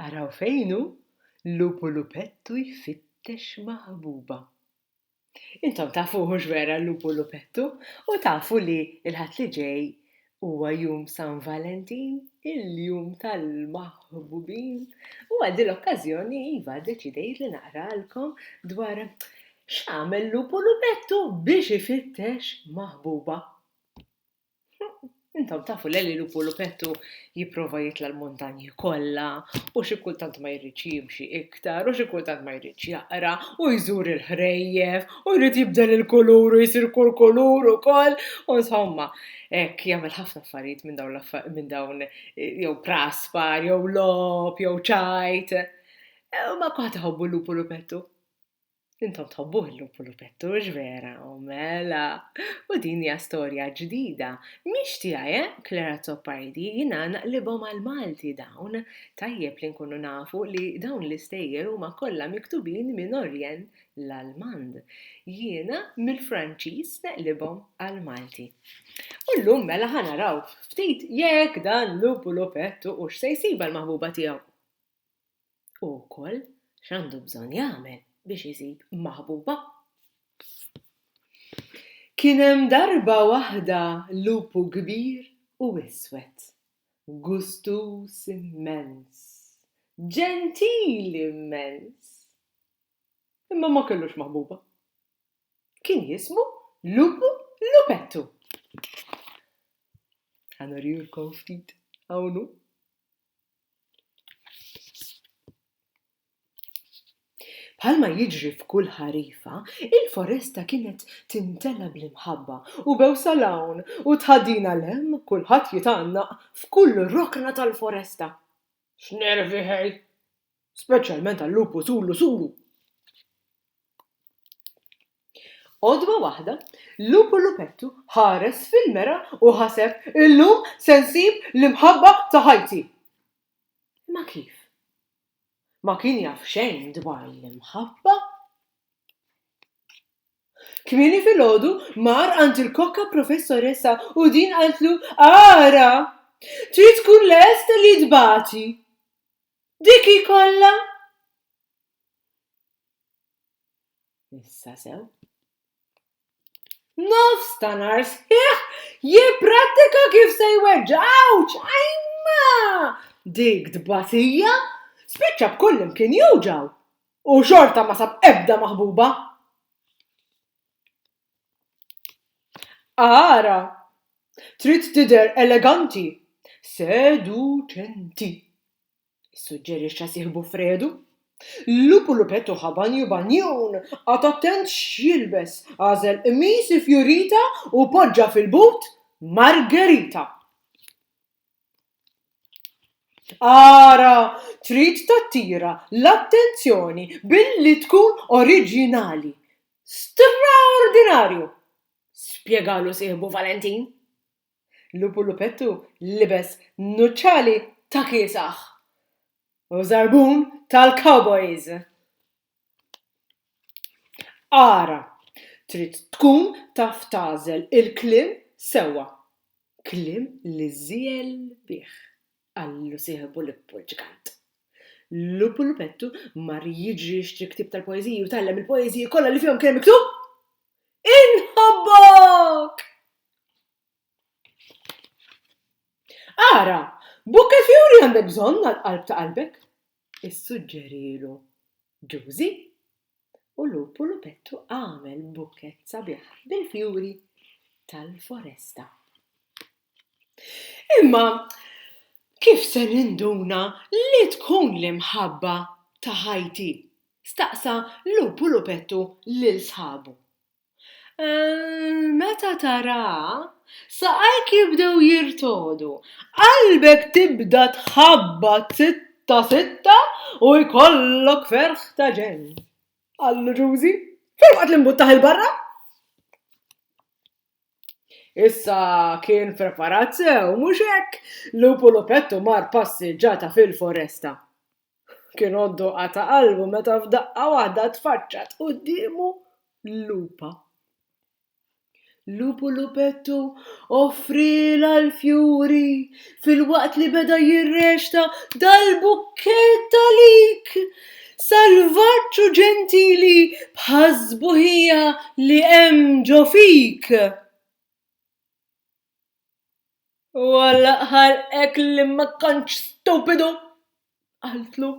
Araw fejn hu lupu lupettu jfittex ma' ħbuba. Intom tafuh hux vera l-lupu lupettu u tafu li l-Ħadd li ġej huwa jum San Valentin, il-jum tal-maħbubin u għal din l-okkażjoni iva ddeċidejt li naqralkom dwar x'għamel lupu lupettu biex ifittex maħbuba. Intom tafu li li lupu lupettu jipprova jitla' l-muntanji kollha u xi kultant ma jridx jimxi iktar u xi kultant ma jridx jaqra u jżur il-ħrejjef u jrid jibdel il-kulur u jsir kull kulur ukoll u nsomma hekk jagħmel ħafna affarijiet minn dawn minn dawn jew praspar jew logħob jew ċajt. Ma kwaħt iħobbu l-lupu lupettu. Intom tħobbuh il-lumpulupettu, mhux vera? U mela! U din hija storja ġdida. Mhix tiegħi, eh, Claire Azzopardi, jiena naqlibhom għall-Malti dawn. Tajjeb li nkunu nafu li dawn l-istejjer huma kollha miktubin minn Orjell l-Almand. Jiena mill-Franċiż neqlibhom għall-Malti. U llum mela ħa naraw ftit jekk dan lumpulupettu hux se jsibha l-maħbuba tiegħu. u wkoll x'għandu bżonn jagħmel biex isib maħbuba. Kien hemm darba waħda lupu kbir u iswed, gustuż immens, ġentili immens, imma ma kellux maħbuba. Kien jismu Lupu Lupettu. Ħa nurihulkom ftit hawn hu. Bħalma jiġri f'kull ħarifa, il-foresta kienet timtela bl-imħabba u bewsa 'l hawn u tħaddina 'l hemm, kulħadd jitgħannaq f'kull rokna tal-foresta. X'nervi ħej! Speċjalment għal-lupus u l-lusuru! Għodwa waħda, lupu lupettu ħares fil-mera u ħaseb, Illum se nsib l-imħabba ta' ħajti! Imma kif? Ma kien jaf xejn dwar l-imħabba. Kmieni filgħodu mar għand il-kokka professoressa u din qaltlu, Ara! Trid tkun lest li tbati. Dik hi kollha! Issa sew. Nofs ta' nar sħiħ jipprattika kif se jweġġaw ċajma dik dbatija spiċċa b'kull imkien juġaw u xorta ma sab ebda maħbuba. Ara, trid tidher eleganti, seduċenti. issuġġerixxa sieħbu Fredu. Lupu Lupetto ħa banju banjun, qagħad attent x'jilbes, għażel qmis ifjurita u poġġa fil-but Margherita. Ara! Trid tattira l-attenzjoni billi tkun oriġinali. Straordinarju! spjegalu sieħbu Valentin. Lupu Lupettu libes nuċċali ta' kiesaħ u żarbun tal-cowboys. Ara, trid tkun taf tagħżel il-kliem sewwa. Kliem li żiegħel bih, qallu sieħbu Lippu l-Ġgant. Lupu Lupettu mar jiġri jixtri ktieb tal-poeżiji u tgħallem il-poeżiji kollha li fihom kien hemm miktub! Inħobbok! Ara, bukke fjuri għandek bżonn għall-qalb ta' qalbek, issuġġerielu Ġużi. U Lupu Lupettu għamel bukkett sabiħ bil-fjuri tal-foresta. Imma kif se ninduna li tkun l-imħabba ta' ħajti Staqsa Lupu Lupettu lil sħabu. Meta tara saqajk jibdew jirtogħdu, qalbek tibda tħabbat sitta sitta u jkollok ferħ ta' ġenn! qallu Ġużi, filwaqt li mbuttaħ 'il barra. Issa kien preparat sew, mhux hekk? Lupu Lupettu mar passiġġata fil-foresta. Kien għoddu qata' qalbu meta f'daqqa waħda tfaċċat quddiemu lupa. Lupu Lupettu offrielha l-fjuri filwaqt li beda jirrexta dal-bukkett għalik, salvaġġ u ġentili bħas-sbuħija li hemm ġo fik! U għall-aħħar hekk li ma kontx stupidu! qaltlu,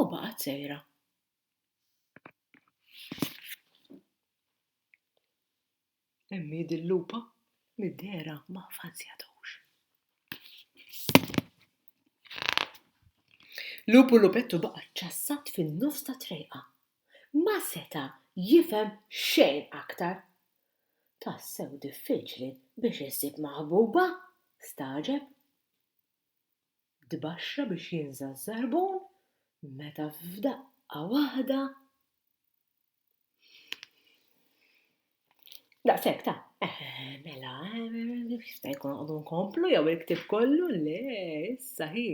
u baqgħet sejra. Hemm hi dil-lupa mid-dehra ma ffazzjatux. Lup u lupettu baqa' ċċassat fin-nofs tat-trejqa. Ma seta' jifhem xejn aktar. Tassew diffiċli biex issib maħbuba? stagħġeb. Tbaxxa biex jinża' ż-żarbun meta f'daqqa waħda Daqshekk ta', eh, mela, eh, jista' jkun għadu nkomplu jew il-ktieb kollu? Le, issa hi,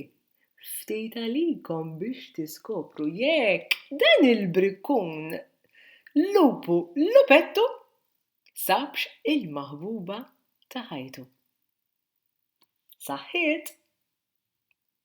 Ftit għalikom biex tiskopru jekk dan il-brikkun lupu lupettu sabx il-maħbuba ta' ħajtu. Saħħiet!